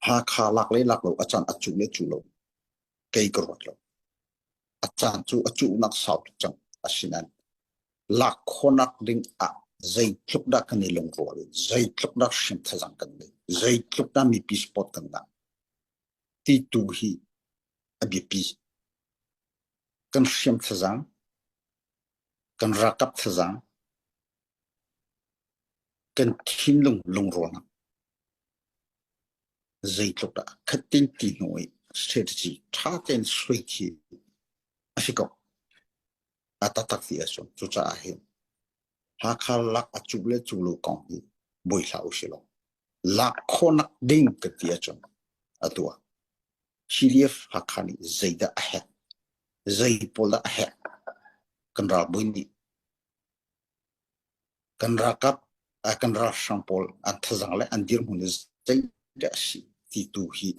Hakha lak le lak lo a caan a cuh le cuh lo kei ka ruat lo. A caan cu a cuhnak sau tuk cang. Asinain lak khawhnak ding ah zeitluk dah kan i lungrual, zeitluk dah hrim thazaang kan ngei, zeitluk dah mipi support kan ngah, ti tu hi a biapi. Kan hriam thazaang, kan ralkap thazaang, Kan thinlung lungrual ah zeitluk dah khat tein ti hnu i strategy ṭha tein suai khi a si ko. A taktak ti a si. Cucaah hin Hakha lak a cu le cu lo kong hi boi hlah usih law lak khawhnak ding kan ti ahcun atu ah CDF Hakha nih zeidah a herh? Zei pawl dah a herh? Kan ralbawi nih Kan ralkap ai kan ralhrang pawl an thazang le an dirhmun le zeidah a si ti tu hi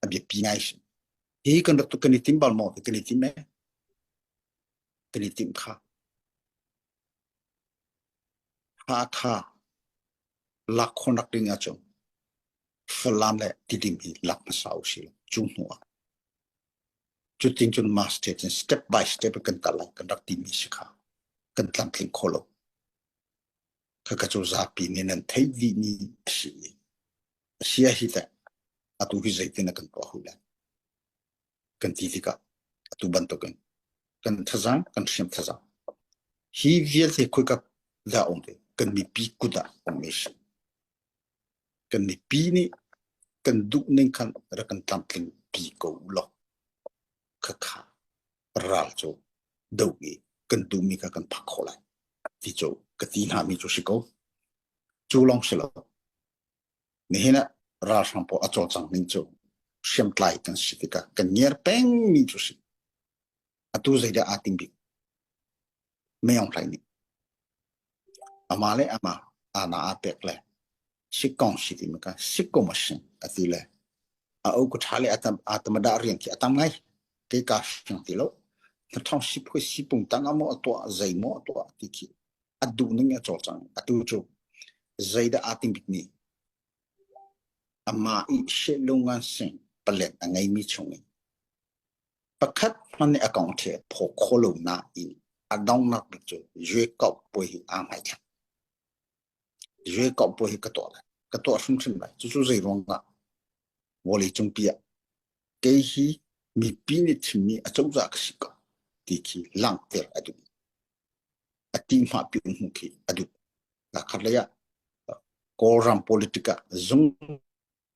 a biapi ngai a si. Hi kan rak tu kan i tim bal maw ti kan i tim ee. Kan i tim kha. Hakha lakhon rak ding ahcun Falam le Tidim hi lak hmasa u si law cu hnu ah Cutin cun masthead in step by step kan tarlangh kan rak timi si kha kan tlamtling kho lo. Khaka cu zapi nih nan theih vi ni a si i a si a hi teh atu hi zeitin a kan tuah hu len kan ti tikah atu bantukin kan thazang kan hriam thazang hi vialte khoika dah um ve kan mipi kut ah um ve si Kan mipi nih kan duhning khan rak kan tlamtling pi ko ulaw khakha ral cu do i kan duhmi kha kan phak khawh lai ti cu ka ti hna mi cu si ko. Cu lawng si lo nihin ah ralhrang pawl a cawlcang ning cu hriamtlai kan si tikah kan ngiar peng mi cu si. atu zeidah aa tim bik meong hlai nih ama le ama ana a pek le sikong si ti maka sikom asin ati le a o ku tha le atam atamada riang ki atam ngai ke ka shang ti lo na thong si phui si pung tang amo to zai mo to ti ki adu ning a chol chang atu chu zaida atim bik ni ama i she lo ngan sing palen angai mi chung Pakhat hmanh nih a kong khi a phaw kho lo nain a donghnak cu yuekauh puai hi aa ngaithlak. Yuekauh puai hi ka tuah lai, ka tuah hrimhrim lai. Cucu zeiruangah? Vawleicungpi ah kei hi mipi nih chimmi acozah ka si ko ti khi langhter a duh. A tihmahpi hmuh khi a duh. Lakhat lei ah Kawlram politic ah zung